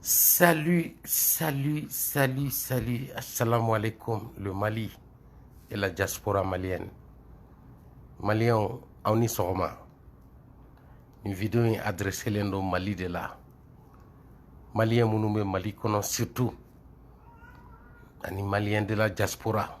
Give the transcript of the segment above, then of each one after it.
Salut, salut, salut, salut. Assalamu alaikum, le Mali et la diaspora malienne. Maliens, on y sera. Une vidéo est adressée au Mali de là. Maliens, nous Mali, surtout. Les Maliens de la diaspora.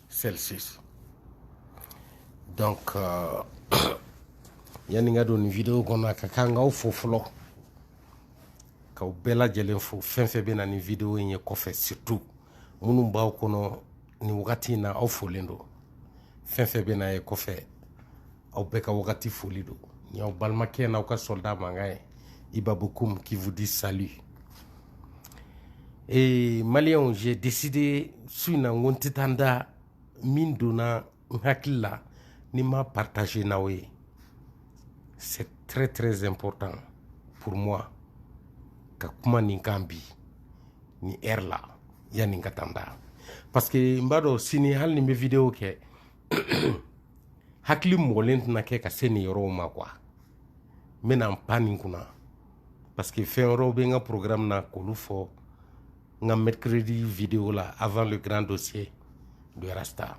celsius donc euh, yanni n ka don nin video kɔnɔ a ka kan n k'aw fo fɔlɔ k'aw bɛɛ lajɛlen fo fɛn fɛn bɛ na nin video in ye kɔfɛ surtout minnu b'aw kɔnɔ nin wagati in na aw folen don fɛn fɛn bɛ na ye kɔfɛ aw bɛɛ ka wagati foli don nin y'aw balimakɛ n'aw ka soldat mankan ye iba bocoum qui vous dit salut ee maliyɛnw j'ai décidé su in na n ko n tɛ taa n da min donna n hakili la ni n m'a partager n'aw ye c'est très très important pour moi ka kuma nin kan bi nin heure la yanni n ka taa n da parce que n b'a dɔn sini hali ni n bɛ video kɛ hakili mɔgɔlen tɛna kɛ ka se nin yɔrɔw ma quoi n bɛna n pan nin kunna parce que fɛn wɛrɛw bɛ n ka programme na k'olu fɔ n ka mercredi video la avant le grand dossier de rasta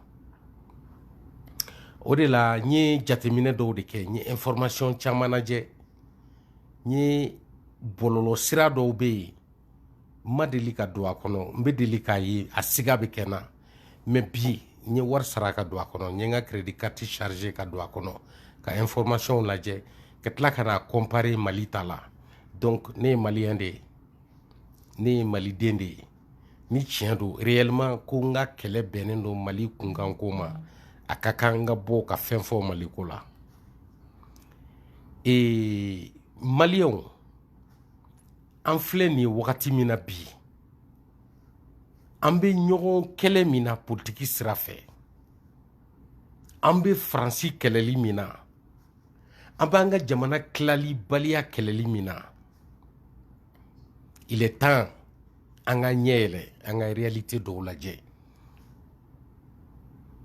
o de la n ye jateminɛ dɔw de kɛ n ye information caman lajɛ n ye bɔlɔlɔ sira dɔw bɛ yen ma deli ka don a kɔnɔ n bɛ deli k'a ye a siga bɛ kɛ n na mais bi n ye wari sara ka don a kɔnɔ n ye n ka crédit carte charger ka don a kɔnɔ ka information lajɛ ka tila ka n'a comparer Mali ta la donc ne ye maliyɛn de ye ne ye maliden de ye ni tiɲɛ don réellement ko n ka kɛlɛ bɛnnen don Mali kunkanko ma a ka kan n ka bɔ ka fɛn fɔ Mali ko la ee maliyɛnw an filɛ nin wagati min na bi an bɛ ɲɔgɔn kɛlɛ min na politiki sira fɛ an bɛ faransi kɛlɛli min na an b'an ka jamana tilali baliya kɛlɛli min na il est temps an ka ɲɛ yɛlɛ an ka réalité dɔw lajɛ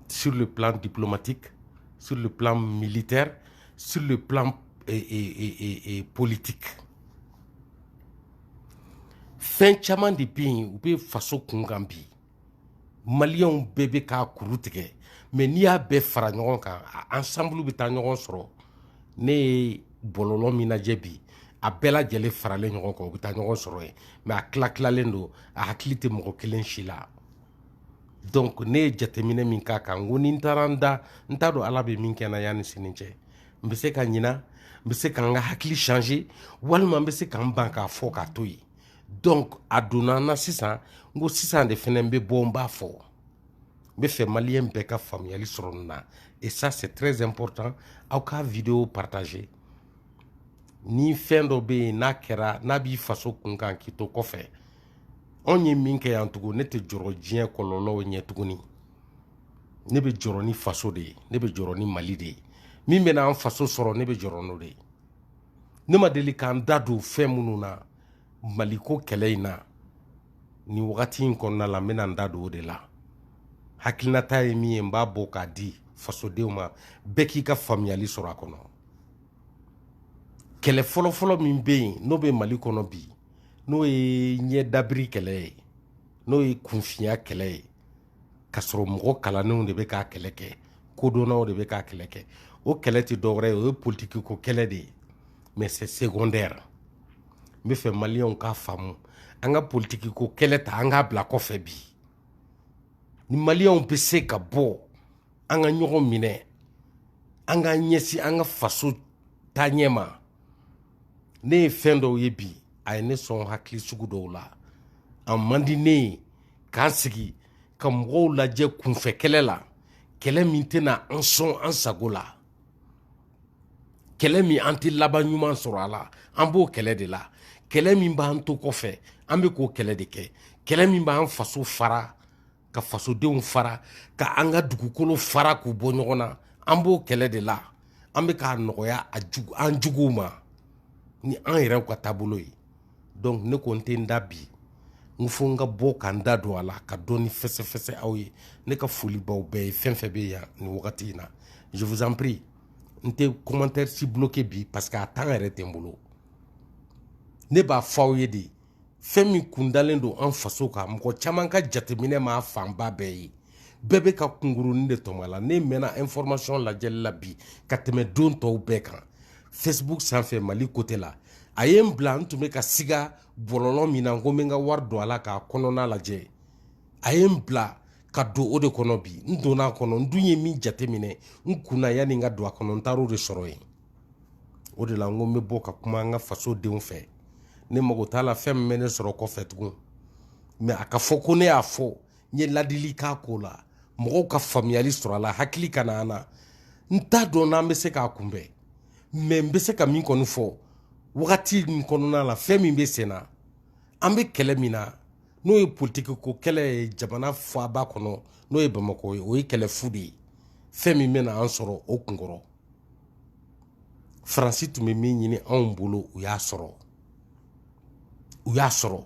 sur le plan diplomatique sur le plan militaire sur le plan euh, euh, euh, euh politique fɛn caman de bɛ yen u bɛ faso kunkan bi maliyɛnw bɛɛ bɛ k'a kuru tigɛ mais n'i y'a bɛɛ fara ɲɔgɔn kan ensemble bɛ taa ɲɔgɔn sɔrɔ ne ye bɔlɔlɔ min lajɛ bi a bɛɛ lajɛlen faralen ɲɔgɔn kan u bɛ taa ɲɔgɔn sɔrɔ yen mais a tila tilalen don a hakili tɛ mɔgɔ kelen si la donc ne ye jateminɛ min k'a kan n ko ni n taara n da n t'a dɔn ala bɛ min kɛ n na yanni sini cɛ n bɛ se ka ɲina n bɛ se ka n ka hakili changer walima n bɛ se ka n ban k'a fɔ k'a to yen donc a donna n na sisan n ko sisan de fana n bɛ bɔ n b'a fɔ n b'a fɛ maliyɛn bɛɛ ka faamuyali sɔrɔ nin na et ça c'est très important aw ka video partager ni fɛn dɔ bɛ yen n'a kɛra n'a b'i faso kun kan k'i to kɔfɛ anw ye min kɛ yan tugun ne tɛ jɔrɔ diɲɛ kɔlɔlɔw ɲɛ tuguni ne bɛ jɔrɔ ni faso de ye ne bɛ jɔrɔ ni mali de ye min bɛna an faso sɔrɔ ne bɛ jɔrɔ n'o de ye ne ma deli ka n da don fɛn minnu na maliko kɛlɛ in na nin wagati in kɔnɔna la n bɛna n da don o de la hakilinata ye min ye n b'a bɔ k'a di fasodenw ma bɛɛ k'i ka faamuyali sɔrɔ a kɔnɔ kɛlɛ fɔlɔfɔlɔ min bɛ yen n'o bɛ mali kɔnɔ bi n'o ye ɲɛdabiri kɛlɛ ye n'o ye kunfinya kɛlɛ ye ka sɔrɔ mɔgɔ kalannenw de bɛ k'a kɛlɛ kɛ kodɔnnaw de bɛ k'a kɛlɛ kɛ o kɛlɛ tɛ dɔwɛrɛ ye o ye politiki ko kɛlɛ de ye mais c'est secondaire n bɛ fɛ maliyɛnw k'a faamu an ka politiki ko kɛlɛ ta an k'a bila kɔfɛ bi ni maliyɛnw bɛ se ka bɔ an ka ɲɔgɔn minɛ an k'an ɲɛsin an ka faso taaɲɛ ma ne ye fɛn dɔw ye bi a ye ne sɔn hakili sugu dɔw la a man di ne ye ka n sigi ka mɔgɔw lajɛ kunfɛ kɛlɛ la kɛlɛ min tɛna an sɔn an sago la kɛlɛ min an tɛ laban ɲuman sɔrɔ a la an b'o kɛlɛ de la kɛlɛ min b'an to kɔfɛ an bɛ k'o kɛlɛ de kɛ kɛlɛ min b'an faso fara ka fasodenw fara ka an ka dugukolo fara k'u bɔ ɲɔgɔn na an b'o kɛlɛ de la an bɛ k'a nɔgɔya an juguw ma ni an yɛrɛw ka taabolo ye donc ne ko n tɛ n da bi n fo n ka bɔ ka n da don a la ka dɔɔni fɛsɛfɛsɛ aw ye ne ka foli b'aw bɛɛ ye fɛn fɛn bɛ yan nin wagati in na je vous en prie n tɛ commentaire si bloqué bi parce que a temps yɛrɛ tɛ n bolo ne b'a fɔ aw ye de fɛn min kundalen don an faso kan mɔgɔ caman ka jateminɛ m'a fanba bɛɛ ye bɛɛ bɛ ka kunkurunin de tɔmɔ a la ne mɛnna information lajɛli la bi ka tɛmɛ don tɔw bɛɛ kan facebook sanfɛ mali côté la a ye n bila n tun bɛ ka siga bɔlɔlɔ min na n ko n bɛ n ka wari don a la k'a kɔnɔna lajɛ a ye n bila ka don o de kɔnɔ bi n donna a kɔnɔ n dun ye min jateminɛ n kun na yanni n ka don a kɔnɔ n taar'o de sɔrɔ yen o de la n ko n bɛ bɔ ka kuma an ka fasodenw fɛ ne mago t'a la fɛn min bɛ ne sɔrɔ kɔfɛ tugun mais a ka fɔ ko ne y'a fɔ n ye ladili k'a ko la mɔgɔw ka faamuyali sɔrɔ a la hakili ka na an na n t'a dɔn n'an bɛ se k'a kunbɛn mais n bɛ se ka min kɔni fɔ wagati min kɔnɔna la fɛn min bɛ sen na an bɛ kɛlɛ min na n'o ye politiki ko kɛlɛ ye jamana faaba kɔnɔ n'o ye bamakɔ ye o ye kɛlɛ fu de ye fɛn min bɛna an sɔrɔ o kunkɔrɔ faransi tun bɛ min ɲini anw bolo u y'a sɔrɔ u y'a sɔrɔ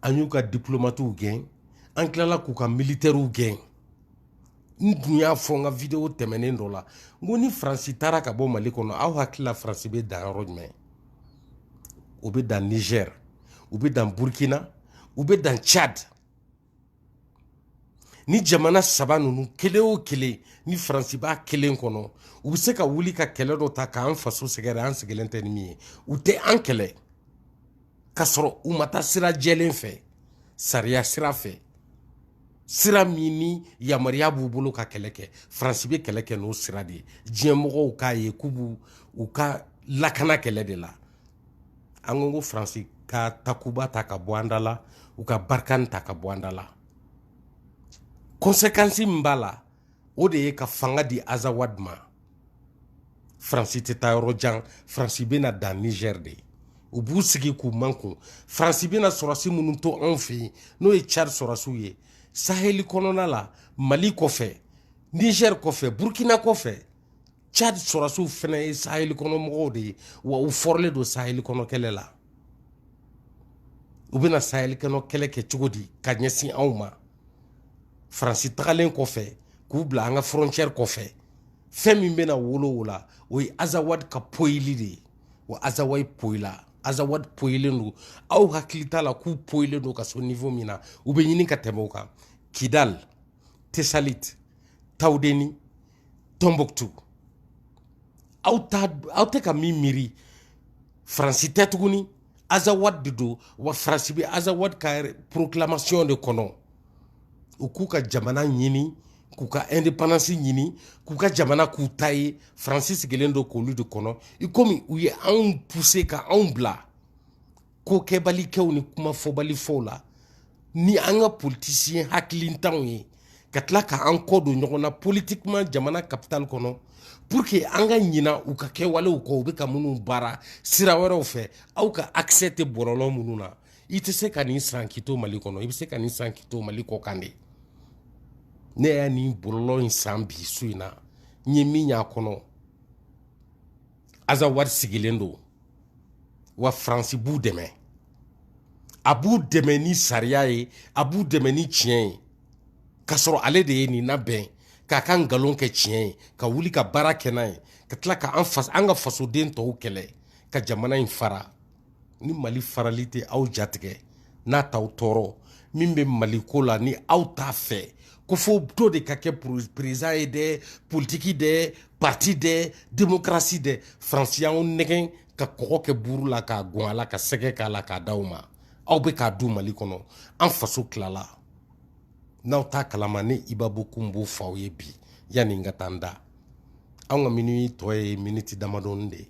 an y'u ka diplomatiw gɛn an tilala k'u ka militɛriw gɛn n tun y'a fɔ n ka video tɛmɛnen dɔ la n ko ni faransi taara ka bɔ mali kɔnɔ aw hakili la faransi bɛ dan yɔrɔ jumɛn u bɛ dan niger u bɛ dan burkina u bɛ dan tchad ni jamana saba ninnu kelen o kelen ni faransi b'a kelen kɔnɔ u bɛ se ka wuli ka kɛlɛ dɔ ta k'an faso sɛgɛrɛ an sigilen tɛ ni min ye u tɛ an kɛlɛ ka sɔrɔ u ma taa sira jɛlen fɛ sariya sira fɛ sira min ni yamaruya b'u bolo ka kɛlɛ kɛ faransi bɛ kɛlɛ kɛ n'o sira de ye diɲɛmɔgɔw k'a ye k'u b'u u ka lakana kɛlɛ de la an ko ko faransi ka takuba ta ka bɔ an da la u ka barkhane ta ka bɔ an da la kɔnsekansi min b'a la o de ye ka fanga di azawad ma faransi tɛ taa yɔrɔ jan faransi bɛna dan niger de u b'u sigi k'u mankun faransi bɛna sɔrɔsi minnu to anw fɛ yen n'o ye cadi sɔrɔsiw ye saheli kɔnɔna la mali kɔfɛ niger kɔfɛ burkina kɔfɛ Cadi sɔrɔsiw fana ye sahel kɔnɔ mɔgɔw de ye wa u fɔrɔlen don sahel kɔnɔ kɛlɛ la u bɛna sahel kɔnɔ kɛlɛ kɛ cogo di ka ɲɛsin anw ma faransi tagalen kɔfɛ k'u bila an ka frontière kɔfɛ fɛn min bɛna wolo o la o ye azawad ka poyili de ye wa azawad poyila azawad poyilen don aw hakili t'a la k'u poyilen don ka so niveau min na u bɛ ɲini ka tɛmɛ o kan kidal tesalit tawudeni tɔnbɔkutu aw tɛ ka min miiri faransi tɛ tuguni azawad de don wa faransi bɛ azawad ka proclamation de kɔnɔ u k'u ka jamana ɲini k'u ka indépendance ɲini k'u ka jamana k'u ta ye faransi sigilen don k'olu de kɔnɔ i komi u ye anw pousser ka anw bila ko kɛbalikɛw ni kuma fɔbali fɔw la ni an ka politisiyɛn hakilintanw ye ka tila ka an kɔ don ɲɔgɔn na politiquement jamana capitale kɔnɔ pour que an ka ɲina u ka kɛwalew kɔ u bɛ ka minnu baara sira wɛrɛw fɛ aw ka accès tɛ bɔlɔlɔ minnu na i tɛ se ka nin san k'i to mali kɔnɔ i bɛ se ka nin san k'i to mali kɔ kan de ne y'a nin bɔlɔlɔ in san bi su in na n ye min y'a kɔnɔ azawad sigilen don wa faransi b'u dɛmɛ a b'u dɛmɛ ni sariya ye a b'u dɛmɛ ni tiɲɛ ye k'a sɔrɔ ale de ye nin labɛn k'a ka nkalon kɛ tiɲɛ ye ka wuli ka baara kɛ n'a ye ka tila ka an ka fasoden tɔw kɛlɛ ka jamana in fara ni mali farali tɛ aw jatigɛ n'a t'aw tɔɔrɔ min bɛ mali ko la ni aw t'a fɛ ko fo dɔ de ka kɛ perezidan ye dɛ politiki dɛ pati dɛ demokarasi dɛ faransi y'aw nɛgɛn ka kɔgɔ kɛ buru la k'a gɔn a la ka sɛgɛ k'a la k'a d'aw ma aw bɛ k'a dun mali kɔnɔ an faso tilala n'aw t'a kalama ne ibabu kun b'o f'aw ye bi yanni n ka taa n da an ka miniti tɔ ye miniti damadɔni de ye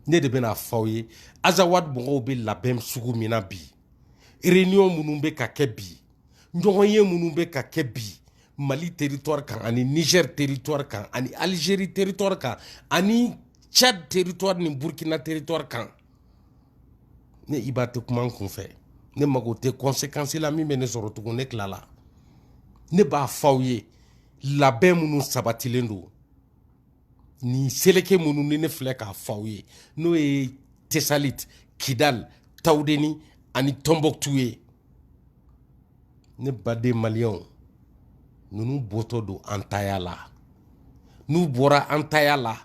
ne de bɛna fɔ aw ye azawad mɔgɔw bɛ labɛn sugu min na bi réunion minnu bɛ ka kɛ bi ɲɔgɔnye minnu bɛ ka kɛ bi mali territoire kan ani niger territoire kan ani algérie territoire kan ani tchad territoire ni burkina territoire kan ne iba tɛ kuma n kun fɛ ne mago tɛ conséquence la min bɛ ne sɔrɔ tugun ne tilala ne b'a fɔ aw ye labɛn minnu sabatilen don nin seleke minnu ni ne filɛ k'a fɔ aw ye n'o ye tesalit kidal tawudeni ani tɔnbɔktu ye ne baden maliyɛnw ninnu bɔtɔ don an taya la n'u bɔra an taya la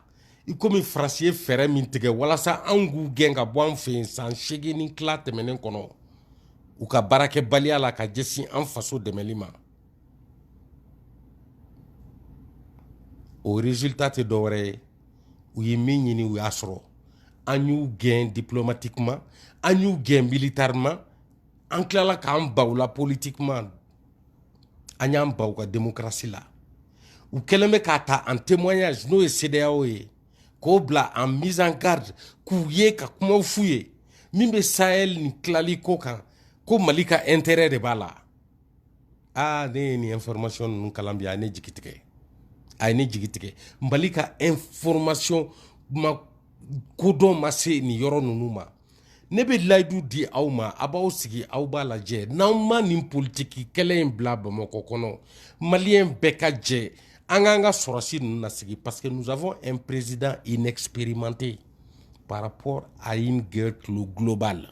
i komi faransi ye fɛɛrɛ min tigɛ walasa an k'u gɛn ka bɔ an fɛ yen san seegin ni tila tɛmɛnen kɔnɔ u ka baarakɛbaliya la ka ɲɛsin an faso dɛmɛli ma o résultat tɛ dɔwɛrɛ ye u ye min ɲini u y'a sɔrɔ an y'u gɛn diplomatiquement an y'u gɛn militairement an tilala k'an ban u la politiquement an y'an ban u ka demokarasi la u kɛlen bɛ k'a ta en témoignage n'o ye cedeao ye k'o bila en mise en garde k'u ye ka kuma f'u ye min bɛ sahel nin tilali ko kan ko mali ka intérêt de b'a la aa ne ye nin information ninnu kalan bi a ye ne jigi tigɛ a ye ne jigi tigɛ mali ka information ma kodɔn ma se nin yɔrɔ ninnu ma ne bɛ layidu di aw ma a b'aw sigi aw b'a lajɛ n'an ma nin politiki kɛlɛ in bila bamakɔ kɔnɔ maliyɛn bɛɛ ka jɛ an k'an ka sɔrɔsi ninnu nasigi parce que nous avons un président inexpérimenté par rapport à une guerre globale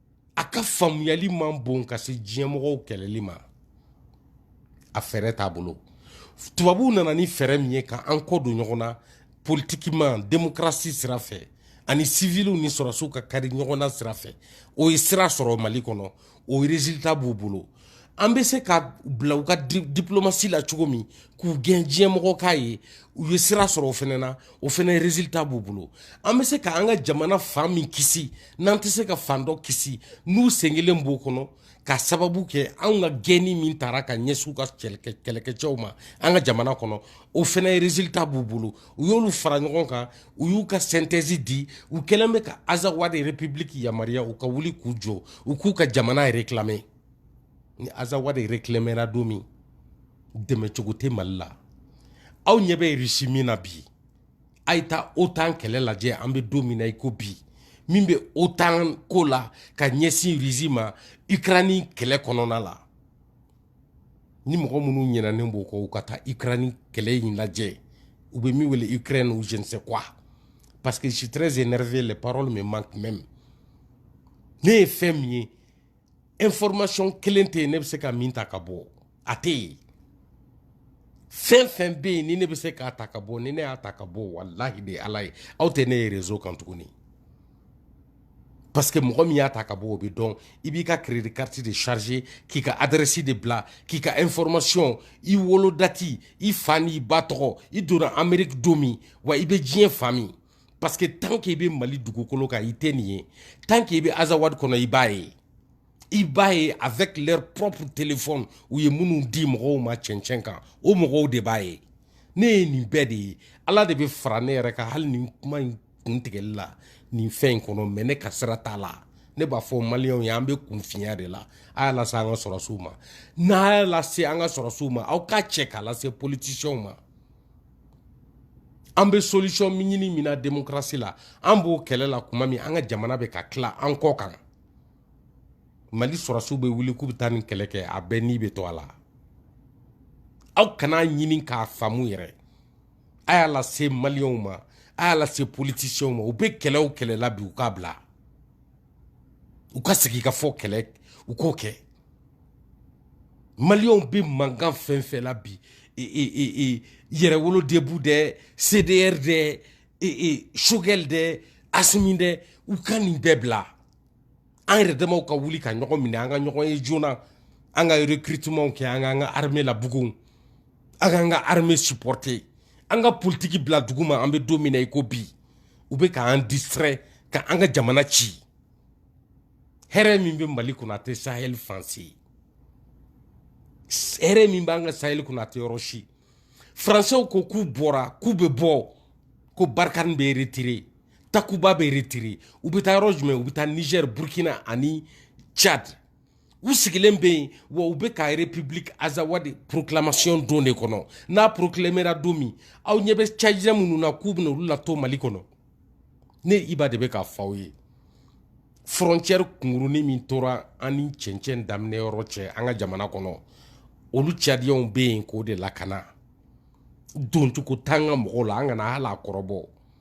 a ka faamuyali man bon ka se diɲɛmɔgɔw kɛlɛli ma a fɛɛrɛ t'a bolo tubabuw nana ni fɛɛrɛ min ye ka an kɔ don ɲɔgɔn na politiquement demokarasi sira fɛ ani siviliw ni sɔrɔsiw ka kari ɲɔgɔn na sira fɛ o ye sira sɔrɔ mali kɔnɔ o résultat b'u bolo an bɛ se ka bila u ka diplomatie la cogo min k'u gɛn diɲɛmɔgɔ k'a ye u ye sira sɔrɔ o fɛnɛ na o fɛnɛ résultat b'u bolo an bɛ se ka an ka jamana fan min kisi n'an tɛ se ka fan dɔ kisi n'u sen kelen b'o kɔnɔ ka sababu kɛ anw ka gɛnni min taara ka ɲɛsin u ka kɛlɛkɛcɛw ma an ka jamana kɔnɔ o fɛnɛ résultat b'u bolo u y'olu fara ɲɔgɔn kan u y'u ka synthèse di u kɛlen bɛ ka azawadi république yamaruya u ka wuli k'u jɔ u k'u ka jamana réclamer ni azawadi réclamera don min dɛmɛcogo tɛ mali la aw ɲɛ bɛ russie min na bi a ye taa otan kɛlɛ lajɛ an bɛ don min na i ko bi min bɛ otan ko la ka ɲɛsin russie ma ukraine kɛlɛ kɔnɔna la ni mɔgɔ minnu ɲinɛnen b'o kɔ u ka taa Ukraine kɛlɛ in lajɛ u bɛ min wele Ukraine ou je sais quoi parce que je suis très énervé les paroles me manquent même ne ye fɛn min ye information kelen tɛ yen ne bɛ se ka min ta ka bɔ a tɛ yen fɛn fɛn bɛ yen ni ne bɛ se k'a ta ka bɔ ni ne y'a ta ka bɔ walahi de ala ye aw tɛ ne ye réseau kan tuguni parce que mɔgɔ min y'a ta ka bɔ o bɛ dɔn i b'i ka crédit carte de charger k'i ka adresse de bila k'i ka information i wolo dati i fa n'i ba tɔgɔ i donna Amérique don min wa i bɛ diɲɛ fan min parce que tant que i bɛ Mali dugukolo kan i tɛ nin ye tant que i bɛ Azawad kɔnɔ i b'a ye i b'a ye avec leur propre téléphone u ye minnu di mɔgɔw ma cɛncɛn kan o mɔgɔw de b'a ye ne ye nin bɛɛ de ye Ala de bɛ fara ne yɛrɛ kan hali nin kuma in kun tigɛli la nin fɛn in kɔnɔ mais ne ka sira t'a la ne b'a fɔ maliyɛnw ye an bɛ kunfinya de la a y'a lase an ka sɔrɔsiw ma n'a y'a lase an ka sɔrɔsiw ma aw k'a cɛ k'a lase politisiyɛnw ma an bɛ solution min ɲini min na démocratie la an b'o kɛlɛ la kuma min an ka jamana bɛ ka tila an kɔ kan mali sɔrɔsiw bɛ wuli k'u bɛ taa nin kɛlɛ kɛ a bɛɛ ni bɛ to a la aw kana ɲini k'a faamu yɛrɛ a y'a lase maliyɛnw ma a y'a lase politisiyɛnw ma u bɛ kɛlɛ o kɛlɛ la bi u k'a bila u ka segin ka fɔ kɛlɛ u k'o kɛ maliyɛnw bɛ mankan fɛn fɛn la bi yɛrɛwolo debout dɛ cdr dɛ choguel dɛ assimi dɛ u ka nin bɛɛ bila an yɛrɛ damaw ka wuli ka ɲɔgɔn minɛ an ka ɲɔgɔn ye joona an ka recrutement kɛ an k'an ka armée labugun an k'an ka armée supporter an ka politiki bila dugu ma an bɛ don min na i ko bi u bɛ k'an distrait ka an ka jamana ci hɛrɛ min bɛ mali kɔnɔ a tɛ sahel fan si hɛrɛ min b'an ka sahel kɔnɔ a tɛ yɔrɔ si français ko k'u bɔra k'u bɛ bɔ ko barkhane bɛ retire takuba bɛ retire u bɛ taa yɔrɔ jumɛn u bɛ taa niger burkina ani tchad u sigilen bɛ yen wa u bɛ ka république azawad proclamation don de kɔnɔ n'a proclamera don min aw ɲɛ bɛ tchadien minnu na k'u bɛna olu lato mali kɔnɔ ne iba de bɛ k'a fɔ aw ye frontière kunkurunin min tora an ni cɛncɛn daminɛ yɔrɔ cɛ an ka jamana kɔnɔ olu tchadiens bɛ yen k'o de lakana doncogo t'an ka mɔgɔw la an kana hali a kɔrɔbɔ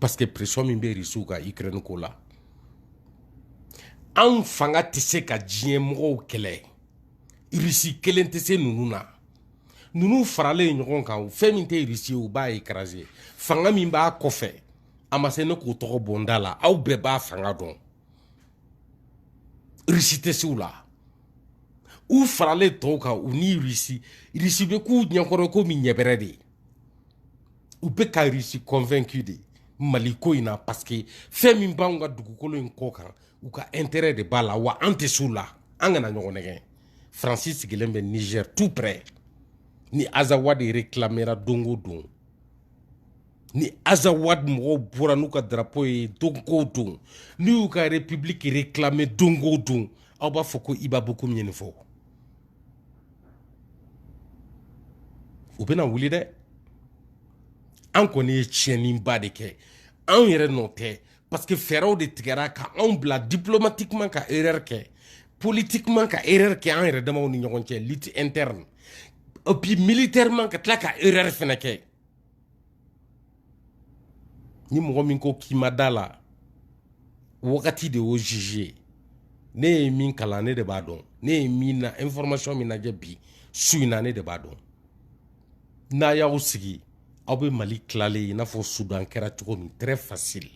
parce que pression min bɛ risiw kan ukraine ko la anw fanga tɛ se ka diɲɛ mɔgɔw kɛlɛ risi kelen tɛ se ninnu na ninnu faralen ɲɔgɔn kan fɛn min tɛ risi ye u b'a écraser fanga min b'a kɔfɛ a ma se ne k'o tɔgɔ bɔ n da la aw bɛɛ b'a fanga dɔn risi tɛ se u la u faralen tɔw kan u ni risi risi bɛ k'u ɲɛkɔrɔ komi ɲɛbɛrɛ de ye u bɛ ka risi convaincu de mali ko in na parce que fɛn min b'anw ka dugukolo in kɔ kan u ka intérêt de b'a la wa an tɛ s'u la an kana ɲɔgɔn nɛgɛn faransi sigilen bɛ niger tout près ni azawad réclamera don o don ni azawad mɔgɔw bɔra n'u ka drapo ye don o don n'u y'u ka république réclamer don o don aw b'a fɔ ko iba bokum ye nin fɔ u bɛna wuli dɛ an kɔni ye tiɲɛniba de kɛ anw yɛrɛ nɔ tɛ parce que fɛɛrɛw de tigɛra ka anw bila diplomatiquement ka erreur kɛ politiquement ka erreur kɛ an yɛrɛ damaw ni ɲɔgɔn cɛ lutte interne et puis militairement ka tila ka erreur fɛnɛ kɛ ni mɔgɔ min ko k'i ma da la wagati de y'o juge ye ne ye min kalan ne de b'a dɔn ne ye min na information min lajɛ bi su in na ne de b'a dɔn n'aw y'aw sigi aw bɛ mali tilalen ye i n'a fɔ sudan kɛra cogo min très facile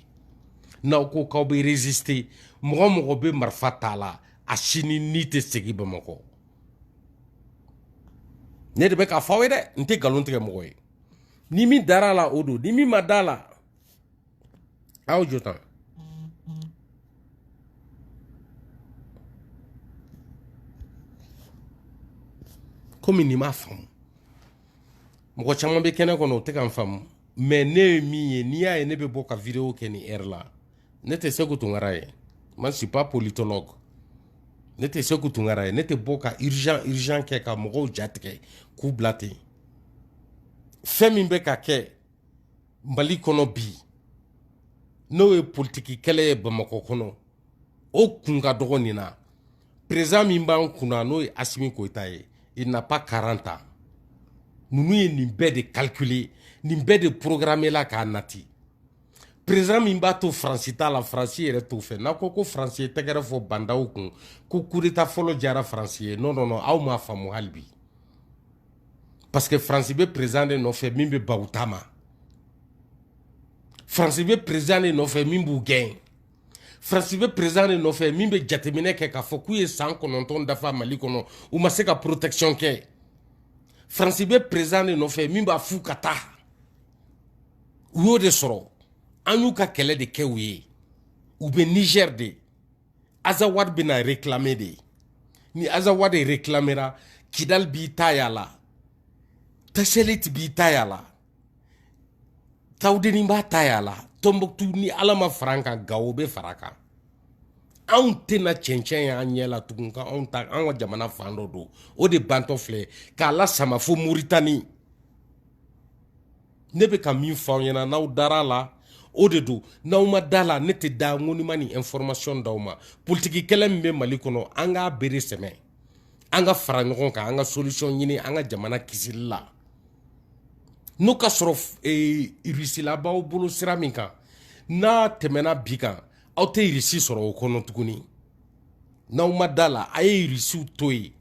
n'aw ko k'aw bɛ résister mɔgɔ o mɔgɔ bɛ marifa t'a la a si ni ni tɛ segin bamakɔ ne de bɛ k'a fɔ aw ye dɛ n tɛ nkalon tigɛ mɔgɔ ye ni min dara la o don ni min ma da la aw jɔ tan komi nin m'a faamu mɔgɔ caman bɛ kɛnɛ kɔnɔ o tɛ ka n faamu mais ne ye min ye n'i y'a ye ne bɛ bɔ ka video kɛ nin heure la ne tɛ seku tunkara ye moi je suis pas politologue ne tɛ seku tunkara ye ne tɛ bɔ ka urgent urgent kɛ ka mɔgɔw jatigɛ k'u bila ten fɛn min bɛ ka kɛ mali kɔnɔ bi n'o ye politiki kɛlɛ ye bamakɔ kɔnɔ o kun ka dɔgɔ nin na président min b'an kunna n'o ye asimi goyita ye il n'a pas quarante ans ninnu ye nin bɛɛ de calculer nin bɛɛ de programmer la k'a nati président min b'a to faransi t'a la faransi yɛrɛ t'o fɛ n'aw ko ko faransi ye tɛgɛrɛ fɔ ba ndaw kun ko kudeta fɔlɔ diyara faransi ye non non non aw m'a faamu hali bi parce que faransi bɛ peresidan de nɔfɛ min bɛ ban u ta ma faransi bɛ peresidan de nɔfɛ min b'u gɛn faransi bɛ peresidan de nɔfɛ min bɛ jateminɛ kɛ k'a fɔ k'u ye san kɔnɔntɔn dafa mali kɔnɔ u ma se ka protection kɛ faransi bɛ peresidan de nɔfɛ min b'a f'u ka taa u y'o de sɔrɔ an y'u ka kɛlɛ de kɛ u ye u bɛ nizɛri de azawadi bɛna réclamer de ni azawadi réclamera kidal b'i ta y'a la taselit b'i ta y'a la tawudeni b'a ta y'a la tɔnbɔkutu ni ala ma fara an kan gawo bɛ fara a kan anw tɛna cɛncɛn y'an ɲɛ la tugun ka anw ta an ka jamana fan dɔ don o de bantɔ filɛ k'a lasama fo moritani ne bɛ ka min fɔ aw ɲɛna n'aw dara la o de don n'aw ma da la ne tɛ da n ko ni n ma nin information d'aw ma politiki kɛlɛ min bɛ mali kɔnɔ an k'a bere sɛmɛ an ka fara ɲɔgɔn kan an ka solution ɲini an ka jamana kisili la n'o ka sɔrɔ eh, irisila b'aw bolo sira min kan n'a tɛmɛna bi kan aw tɛ irisi sɔrɔ o kɔnɔ tuguni n'aw ma da la a ye irisiw to yen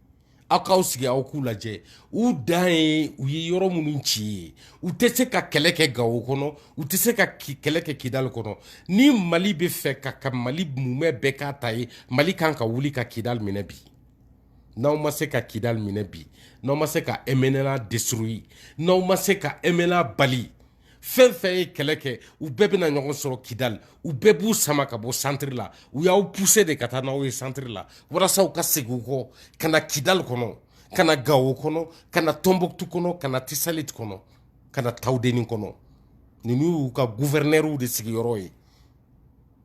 aw k'aw sigi aw k'u lajɛ u dan ye u ye yɔrɔ minnu ci ye u tɛ se ka kɛlɛ kɛ gawo kɔnɔ u tɛ se ka kɛlɛ kɛ kidali kɔnɔ ni mali bɛ fɛ ka ka mali mumɛ bɛɛ k'a ta ye mali kan ka wuli ka kidali minɛ bi n'aw ma se ka kidali minɛ bi n'aw ma se ka MNLA détruire n'aw ma se ka MNLA bali fɛn fɛn ye kɛlɛ kɛ u bɛɛ bɛna ɲɔgɔn sɔrɔ kidali u bɛɛ b'u sama ka bɔ santiri la u y'aw puse de ka taa n'aw ye santiri la walasa u ka segin u kɔ ka na kidali kɔnɔ ka na gawo kɔnɔ ka na tɔnbɔkutu kɔnɔ ka na tisaliti kɔnɔ ka na tawudeni kɔnɔ ninnu y'u ka guvɛrinɛriw de sigiyɔrɔ ye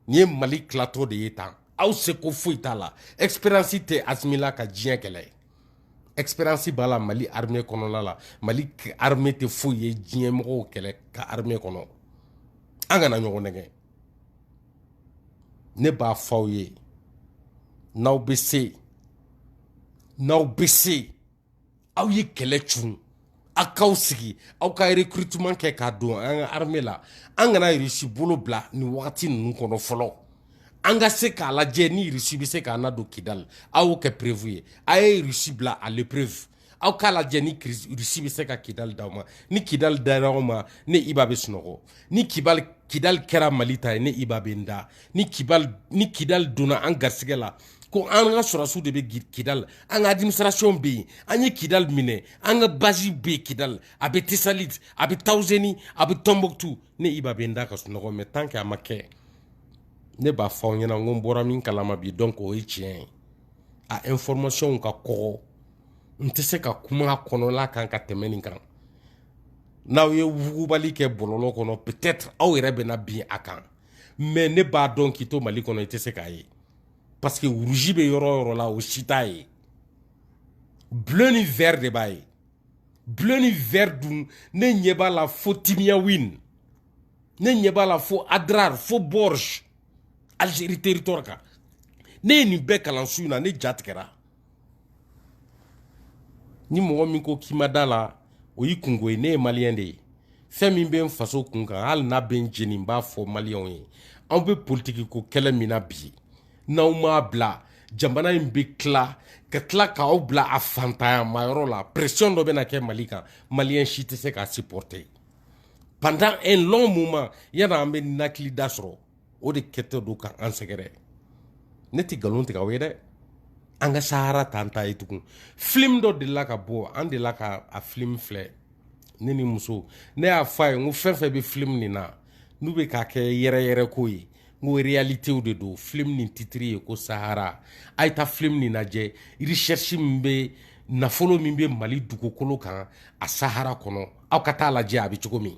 nin ye mali tilatɔ de ye tan aw seko foyi t'a la expérience tɛ asimi la ka diɲɛ kɛlɛ ye expérience b'a la mali armée kɔnɔna la mali armée tɛ foyi ye diɲɛ mɔgɔw kɛlɛ ka armée kɔnɔ an kana ɲɔgɔn nɛgɛn ne b'a fɔ aw ye n'aw bɛ se n'aw bɛ se aw ye kɛlɛ c aw k'aw sigi aw ka recrutement kɛ k'a don an ka armée la an kana Russie bolo bila nin wagati ninnu kɔnɔ fɔlɔ an ka se k'a lajɛ ni Russie bɛ se k'an nadon Kidali aw y'o kɛ preuve ye a ye Russie bila à l'épreuve aw k'a lajɛ ni Russie bɛ se ka Kidali d'aw ma ni Kidali dara aw ma ne Iba bɛ sunɔgɔ ni Kidali kɛra Mali ta ye ne Iba bɛ n da ni Kidali donna an garisigɛ la ko an ka sɔrɔdasiw de bɛ kidali an ka administration bɛ yen an ye kidali minɛ an ka base bɛ yen kidali a bɛ tisali a bɛ tawuseni a bɛ tɔnbɔkutu ne iba bɛ n da ka sunɔgɔ mais tant que a ma kɛ ne b'a fɔ aw ɲɛna n ko n bɔra min kalama bi donc o ye tiɲɛ ye a information ka kɔgɔ n tɛ se ka kuma a kɔnɔla kan ka tɛmɛ nin kan n'aw ye wugubali kɛ bɔlɔlɔ kɔnɔ peut-être aw yɛrɛ bɛna bin a kan mais ne b'a dɔn k'i to mali kɔnɔ i tɛ se k'a ye parce que rouge bɛ yɔrɔ o yɔrɔ la o si t'a ye bleu ni vert de b'a ye bleu ni vert dun ne ɲɛ b'a la fo timiyawin ne ɲɛ b'a la fo adrar fo bordj algérie territoire kan ne ye nin bɛɛ kalan su in na ne ja tigɛra ni mɔgɔ min ko k'i ma da la o y'i kunko ye ne ye maliyɛn de ye fɛn min bɛ n faso kun kan hali n'a bɛ n jeni n b'a fɔ maliyɛnw ye anw bɛ politiki ko kɛlɛ min na bi n'aw m'a bila jamana in bɛ tila ka tila k'aw bila a fantanyamayɔrɔ la pression dɔ bɛna kɛ mali kan maliyɛn si tɛ se k'a supporter pendant un long moment yann'an bɛ ninakilida sɔrɔ o de kɛtɔ don ka an sɛgɛrɛ ne tɛ nkalon tigɛ aw ye dɛ an ka sahara t'an ta ye tugun film dɔ delila ka bɔ an delila ka a film filɛ ne ni muso ne y'a fɔ a ye n ko fɛn o fɛn bɛ film nin na n'u bɛ k'a kɛ yɛrɛ yɛrɛ ko ye n ko réalitéw de don film nin titiri ye ko sahara a ye taa film nin lajɛ recherche min bɛ nafolo min bɛ mali dugukolo kan a sahara kɔnɔ aw ka taa lajɛ a bɛ cogo min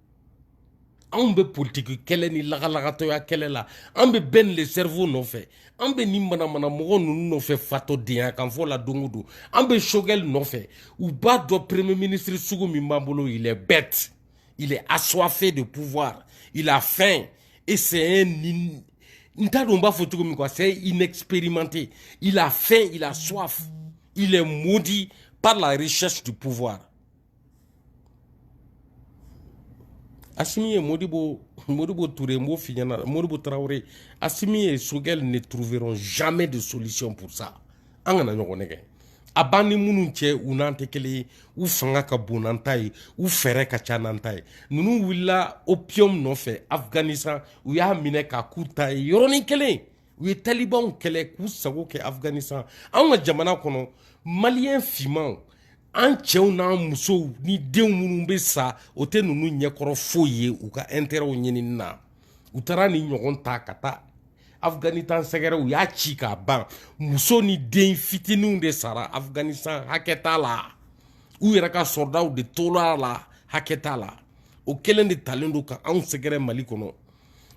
anw bɛ politiki kɛlɛ ni lagalagatɔya kɛlɛ la an bɛ ben le cerveau nɔfɛ an bɛ nin manamana mɔgɔ ninnu nɔfɛ fatɔ denya kan fɔ la don o don an bɛ choguel nɔfɛ u b'a dɔn premier ministre sugu min b'an bolo il est bête il est assoiffé de pouvoir il a faim et c'est un n t'a dɔn n b'a fɔ cogo min quoi c'est inexpérimenté il a faim il a soif il est maudit par la recherche du pouvoir asimi et modibo modibo toure n b'o f'i ɲɛna modibo tarawele asimi et choguel ne trouveront jamais de solution pour ça an kana ɲɔgɔn nɛgɛn a b'an ni minnu cɛ u n'an tɛ kelen ye u fanga ka bon n'an ta ye u fɛɛrɛ ka ca n'an ta ye ninnu wulila opium nɔfɛ afghanistan u y'a minɛ k'a k'u ta ye yɔrɔnin kelen u ye talibanw kɛlɛ k'u sago kɛ afghanistan anw ka jamana kɔnɔ maliyɛn fimanw an cɛw n'an musow ni denw minnu bɛ sa o tɛ ninnu ɲɛkɔrɔ foyi ye u ka intɛrɛw ɲinini na u taara nin ɲɔgɔn ta ka taa afghanistan sɛgɛrɛ u y'a ci k'a ban muso ni den fitininw de sara afghanistan hakɛ t'a la u yɛrɛ ka sɔrɔdaw de tora a la hakɛ t'a la o kelen de talen don ka anw sɛgɛrɛ mali kɔnɔ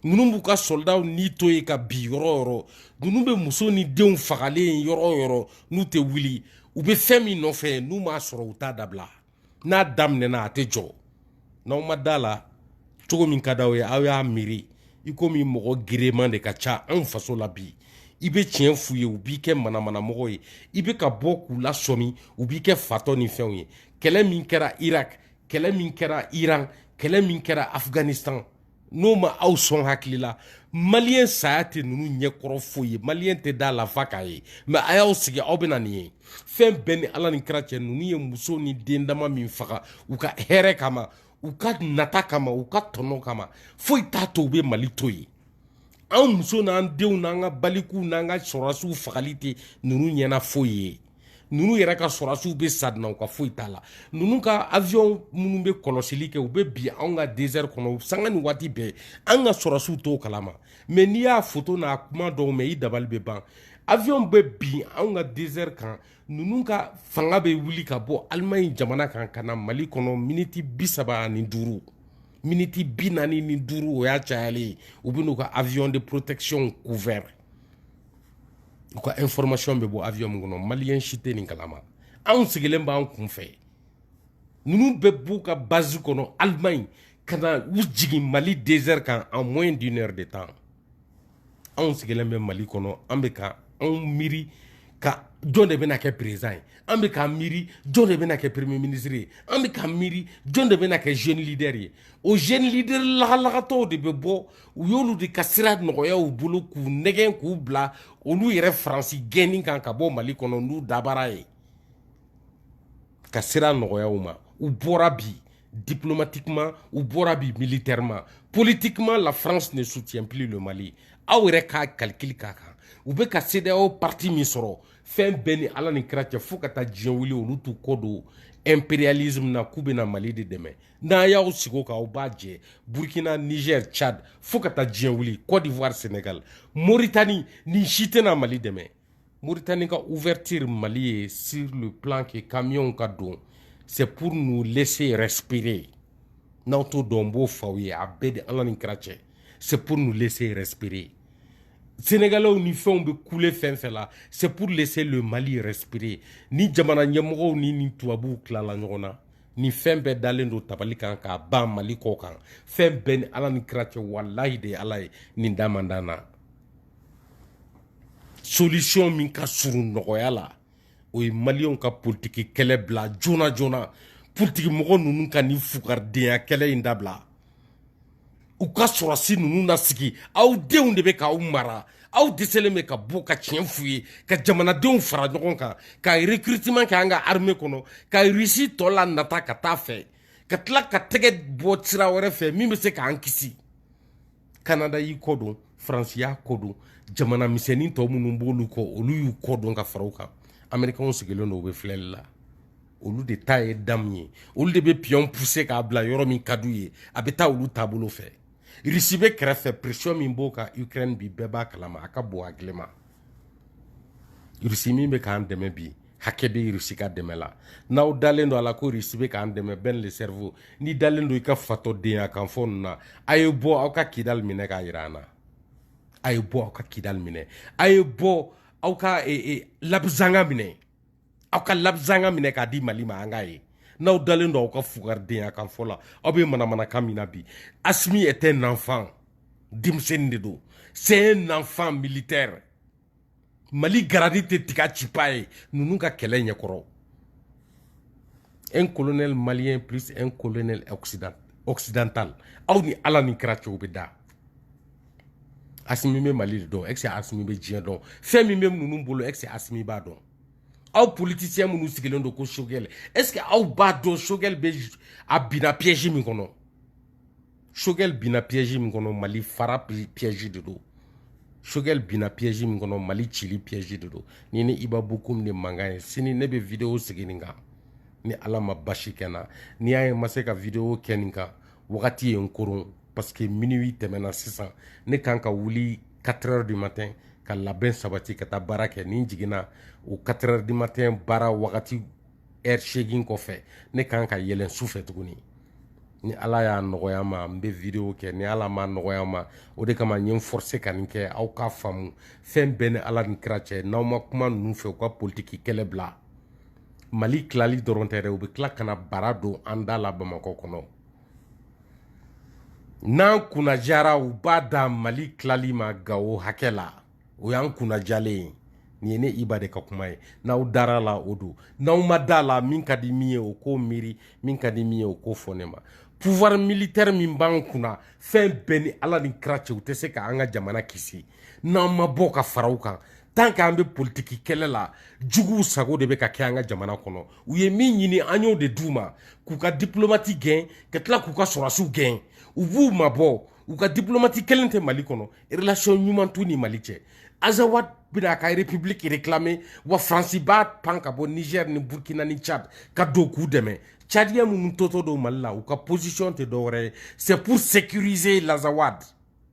ninnu b'u ka sɔlɔdaw ni to yen ka bi yɔrɔ yɔrɔ ninnu bɛ muso ni denw fagalen ye yɔrɔ yɔrɔ n'u tɛ wuli u bɛ fɛn min nɔfɛ n'u m'a sɔrɔ u t'a dabila n'a daminɛna a tɛ jɔ n'aw ma da la cogo min ka di aw ye aw y'a miiri i komi mɔgɔ gerenman de ka ca anw faso la bi i bɛ tiɲɛ f'u ye u b'i kɛ manamanamɔgɔ ye i bɛ ka bɔ k'u lasɔmi u b'i kɛ fatɔ ni fɛnw ye kɛlɛ min kɛra irak kɛlɛ min kɛra iran kɛlɛ min kɛra afghanistan n'o ma aw sɔn hakili la maliyɛn saya tɛ ninnu ɲɛkɔrɔ foyi ye maliyɛn tɛ da la f'a k'a ye mɛ a y'aw sigi aw bɛna nin ye fɛn bɛɛ ni ala ni kira cɛ ninnu ye muso ni den dama min faga u ka hɛrɛ kama u ka nata kama u ka tɔnɔ kama foyi t'a to u bɛ mali to yen anw muso n'an denw n'an ka balikuw n'an ka sɔrɔdasiw fagali tɛ ninnu ɲɛna foyi ye ninnu yɛrɛ ka sɔrɔdasiw bɛ sa u ka foyi t'a la ninnu ka avion minnu bɛ kɔlɔsili kɛ u bɛ bin anw ka désert kɔnɔ sanga ni waati bɛɛ an ka sɔrɔdasiw t'o kalama mɛ n'i y'a foto n'a kuma dɔw mɛn i dabali bɛ ban avion bɛ bin anw ka désert kan ninnu ka fanga bɛ wuli ka bɔ alimaɲi jamana kan ka na mali kɔnɔ miniti bi saba ani duuru miniti bi naani ni duuru o y'a cayalen ye u bɛ n'u ka avion de protection couvert u ka information bɛ bɔ avion min kɔnɔ maliyɛn si tɛ nin kalama anw sigilen b'an kunfɛ ninnu bɛ b'u ka base kɔnɔ allemagne ka na u jigin mali désert kan en moins d'une heure de temps anw sigilen bɛ mali kɔnɔ an bɛ ka anw miiri ka jɔn de bɛna kɛ président ye an bɛ k'an miiri jɔn de bɛna kɛ premier ministre ye an bɛ k'an miiri jɔn de bɛna kɛ jeune leader ye o jeune leader lagalagatɔw de bɛ bɔ u y'olu de ka sira nɔgɔya u bolo k'u nɛgɛn k'u bila olu yɛrɛ faransi gɛnni kan ka bɔ mali kɔnɔ n'u dabara ye ka sira nɔgɔya u ma u bɔra bi diplomatiquement u bɔra bi militairement politiquement la france ne soutient plus le mali aw yɛrɛ k'a calcul k'a kan u bɛ ka cedeao parti min sɔrɔ fɛn bɛɛ ni ala ni kira cɛ fo ka taa diɲɛ wuli olu t'u kɔ don impérialisme na k'u bɛna mali de dɛmɛ n'a y'aw sigi o kan aw b'a jɛ burkina niger tchad fo ka taa diɲɛ wuli côte d'ivoire sénégal moritani nin si tɛna mali dɛmɛ moritani ka ouverture mali ye sur le plan que kamiyɔnw ka don c'est pour nous laisser respirer n'aw t'o dɔn n b'o f'aw ye a bɛɛ de ala ni kira cɛ c'est pour nous laisser respirer sénégalais ni fɛnw bɛ kule fɛn fɛn la c'est pour laisser le mali respirer ni jamana ɲɛmɔgɔw ni ni tubabuw tilala ɲɔgɔn na ni fɛn bɛɛ dalen don tabali kan ka ban mali kɔ kan fɛn bɛɛ ni ala ni kira cɛ walayi de ala ye nin da man dan na solution min ka surun nɔgɔya la o ye maliyɛnw ka politiki kɛlɛ bila joona joona politiki mɔgɔ ninnu ka ni fugaridenya kɛlɛ in dabila u ka sɔrɔsi ninnu na sigi aw denw de bɛ k'aw mara aw dɛsɛlen bɛ ka bɔ ka tiɲɛ f'u ye ka jamanadenw fara ɲɔgɔn kan ka recrutement kɛ an ka armée kɔnɔ ka risi tɔ la nata ka taa fɛ ka tila ka tɛgɛ bɔ sira wɛrɛ fɛ min bɛ se k'an kisi kanada y'i kɔdon faransi y'a kɔdon jamana misɛnnin tɔ minnu b'olu kɔ olu y'u kɔdon ka fara u kan amerikɛnw sigilen don u bɛ filɛli la olu de ta ye damu ye olu de bɛ piyɔn puse k'a bila yɔrɔ min ka d'u ye a bɛ taa olu taabolo fɛ risi bɛ kɛrɛfɛ presiyɔn min b'o kan ukraine bi bɛɛ b'a kalama a ka bon hakili ma risi min bɛ k'an dɛmɛ bi hakɛ bɛ risi ka dɛmɛ la n'aw dalen don a la ko risi bɛ k'an dɛmɛ ben le cerveau n'i dalen don i ka fatɔdenya kan fɔ ninnu na a ye bɔ aw ka kidali minɛ k'a jira an na a ye bɔ aw ka kidali minɛ a ye bɔ aw ka labizanga minɛ aw ka labizanga minɛ k'a di mali ma an k'a ye n'aw dalen don aw ka fugaridenya kan fɔ la aw bɛ manamanakan min na bi asimi est un enfant denmisɛnnin de don c'est un enfant militaire mali garadi tɛ tiga cipa ye ninnu ka kɛlɛ ɲɛkɔrɔ un colonel malien plus un colonel occident occidental aw ni ala ni kira cɛ aw bɛ da asimi bɛ mali de dɔn est ce que asimi bɛ diɲɛ dɔn fɛn min bɛ ninnu bolo est ce que asimi b'a dɔn aw politiciens minnu sigilen don ko sogɛl est ce que aw b'a dɔn sogɛl bɛ a binna piège min kɔnɔ sogɛl binna piège min kɔnɔ mali fara piège de don sogɛl binna piège min kɔnɔ mali cili piège de don ni ne iba bokum de mankan ye sini ne bɛ video sigi nin kan ni ala ma basi kɛ n na n'i y'a ye n ma se ka video kɛ nin kan wagati ye n koron parce que minuit tɛmɛna sisan ne kan ka wuli 4 heures du matin ka labɛn sabati ka taa baara kɛ ni n jiginna o 4 heures du matin baara wagati heure seegin kɔfɛ ne kan ka yɛlɛn su fɛ tuguni ni ala y'a nɔgɔya ma n bɛ video kɛ ni ala m'a nɔgɔya ma o de kama n ye n forcé ka nin kɛ aw k'a faamu fɛn bɛɛ ni ala ni kira cɛ n'aw ma kuma ninnu fɛ u ka politiki kɛlɛ bila mali tilali dɔrɔn tɛ dɛ u bɛ tila ka na bara don an da la bamakɔ kɔnɔ n'an kunnajara u b'a da mali tilali ma gawo hakɛ la o y'an kunnajalen ye nin ye ne iba de ka kuma ye n'aw dara a la o don n'aw ma da a la min ka di min ye o k'o miiri min ka di min ye o k'o fɔ ne ma pouvoir militaire min b'an kunna fɛn bɛɛ ni ala ni kira cɛ u tɛ se ka an ka jamana kisi n'an ma bɔ ka fara u kan tant que an bɛ politiki kɛlɛ la juguw sago de bɛ ka kɛ an ka jamana kɔnɔ u ye min ɲini an y'o de d'u ma k'u ka diplomati gɛn ka tila k'u ka sɔrɔsiw gɛn u b'u mabɔ u ka diplomati kelen tɛ mali kɔnɔ relation ɲuman t'u ni mali cɛ azawad bɛna a ka république réclamer wa faransi b'a pan ka bɔ niger ni burkina ni tchad ka don k'u dɛmɛ cadiyɛn minnu tɔtɔ don mali la u ka position tɛ dɔwɛrɛ ye c'est pour sécuriser l'azawad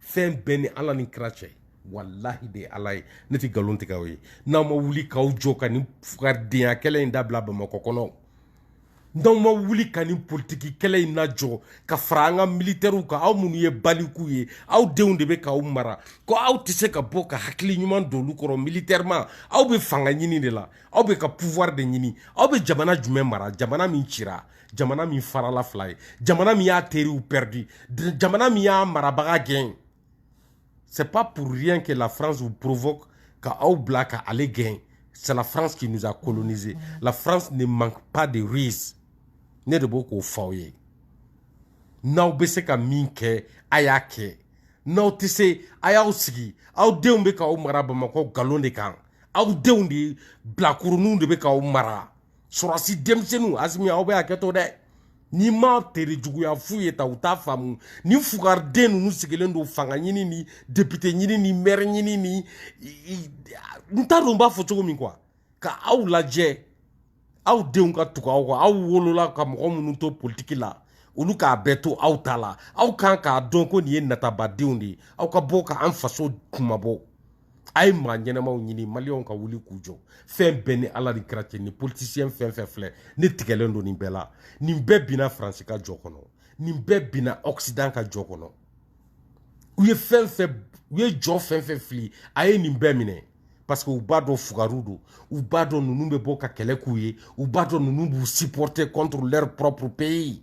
fɛn bɛɛ ni ala ni kira cɛ walahi de ala ye ne tɛ nkalon tigɛ aw ye n'aw ma wuli k'aw jɔ ka nin fugaridenya kɛlɛ in dabila bamakɔ kɔnɔ n'aw ma wuli ka nin politiki kɛlɛ in lajɔ ka fara an ka militɛriw kan aw minnu ye balikuw ye aw denw de bɛ k'aw mara ko aw tɛ se ka bɔ ka hakili ɲuman don olu kɔrɔ militairement aw bɛ fanga ɲini de la aw bɛ ka pouvoir de ɲini aw bɛ jamana jumɛn mara jamana min cira jamana min farala fila ye jamana min y'a teriw perdu jamana min y'a marabaga gɛn c'est pas pour rien que la france vous provoque ka aw bila ka ale gɛn c'est la france qui nous a colonisé la france ne manque pas de ruse ne de b'o k'o fɔ aw ye n'aw bɛ se ka min kɛ a y'a kɛ n'aw tɛ se a y'aw sigi aw denw bɛ k'aw mara bamakɔ nkalon de kan aw denw de bilakoroninw de bɛ k'aw mara sɔrɔsi denmisɛnninw asimi aw bɛ hakɛ to dɛ n'i ma tere juguya fu ye ta u t'a faamu ni fugariden ninnu sigilen don fanga ɲini ni depite ɲini ni mɛri ɲini ni n t'a dɔn n b'a fɔ cogo min quoi ka aw lajɛ aw denw ka tugu aw kɔ aw wolola ka mɔgɔ minnu to politiki la olu k'a bɛɛ to aw ta la aw kan k'a dɔn ko nin ye natabadenw de ye aw ka bɔ ka an faso kunmabɔ a ye maa ɲɛnamaw ɲini maliyɛnw ka wuli k'u jɔ fɛn bɛɛ ni ala ni kira cɛ ni politisiyɛn fɛn fɛn filɛ ne tigɛlen don nin bɛɛ la nin bɛɛ binna faransi ka jɔ kɔnɔ nin bɛɛ binna ɔkisidan ka jɔ kɔnɔ u ye fɛn fɛn u ye jɔ fɛn fɛn fili a ye nin bɛɛ minɛ parce que u b'a dɔn fugariw don u b'a dɔn ninnu bɛ bɔ ka kɛlɛ k'u ye u b'a dɔn ninnu b'u supporter contre leur propre pays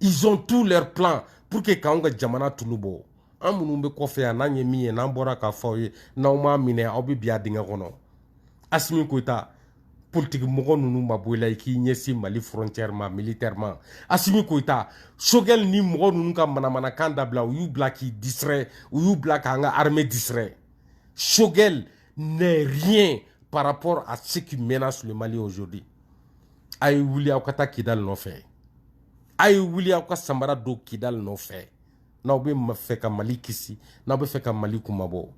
ils ont tous leurs plans pour que k'anw ka jamana tulu bɔ an minnu bɛ kɔfɛ yan n'an ye min ye n'an bɔra k'a fɔ aw ye n'aw m'a minɛ aw bɛ bin a dingɛ kɔnɔ asimi koyita politiki mɔgɔ ninnu mabɔ i la i k'i ɲɛsin mali frontière ma militairement asimi koyita sogɛli ni mɔgɔ ninnu ka manamanakan dabila u y'u bila k'i distrait u y'u bila k'an ka armée distrait choguel n'est rien par rapport à ce qui menace le mali aujourd'hui a ye wuli aw ka taa kidali nɔfɛ a ye wuli aw ka samara don kidali nɔfɛ n'aw bɛ fɛ ka mali kisi n'aw bɛ fɛ ka mali kunmabɔ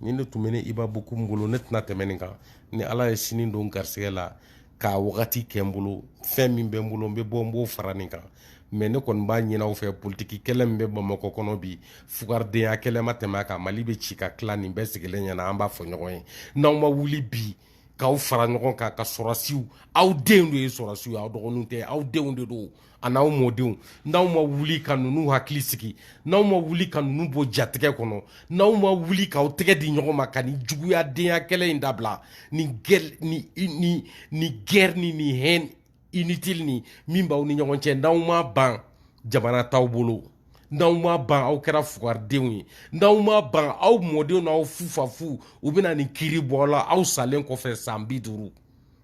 nin de tun bɛ ne iba bokum bolo ne tɛna tɛmɛ nin kan ni ala ye sini don garisɛgɛ la k'a wagati kɛ n bolo fɛn min bɛ n bolo n bɛ bɔ n b'o fara nin kan mais ne kɔni b'a ɲin'aw fɛ politiki kɛlɛ min bɛ bamakɔ kɔnɔ bi fugaridenya kɛlɛ ma tɛmɛ a kan mali bɛ ci ka tila nin bɛɛ sigilen ɲɛna an b'a fɔ ɲɔgɔn ye n'aw ma wuli bi k'aw fara ɲɔgɔn kan ka sɔrɔsiw aw denw de ye sɔrɔsiw ye aw dɔgɔninw tɛ aw denw de don a n'aw mɔdenw n'aw ma wuli ka ninnu hakili sigi n'aw ma wuli ka ninnu bɔ jatigɛ kɔnɔ n'aw ma wuli k'aw tɛgɛ di ɲɔgɔn ma ka nin juguyadenya kɛlɛ in dabila ni ni ni ni guerre ni ni haine inutile nin min b'aw ni ɲɔgɔn cɛ n'aw ma ban jamana t'aw bolo n'aw ma ban aw kɛra fugaridenw ye n'aw ma ban aw mɔdenw n'aw fufafu u bɛna nin kiiri bɔ aw la aw salen kɔfɛ san bi duuru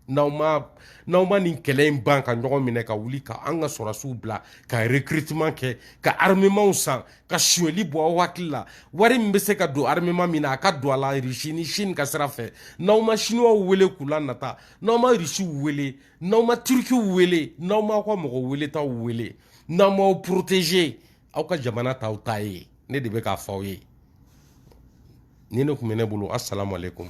n'aw ma n'aw ma nin kɛlɛ in ban ka ɲɔgɔn minɛ ka wuli ka an ka sɔrɔsiw bila ka recrutement kɛ ka armementw san ka suyɛli bɔ aw hakili la wari min bɛ se ka don armement min na a ka don a la Russie ni Chine ka sira fɛ n'aw ma chinoisw wele k'u la nata n'aw ma irisiw wele n'aw ma turikiw wele n'aw m'aw ka mɔgɔ weletaw wele n'aw m'aw protéger aw ka jamana t'aw ta ye ne de bɛ k'a fɔ aw ye nin de tun bɛ ne bolo asalamu aleykum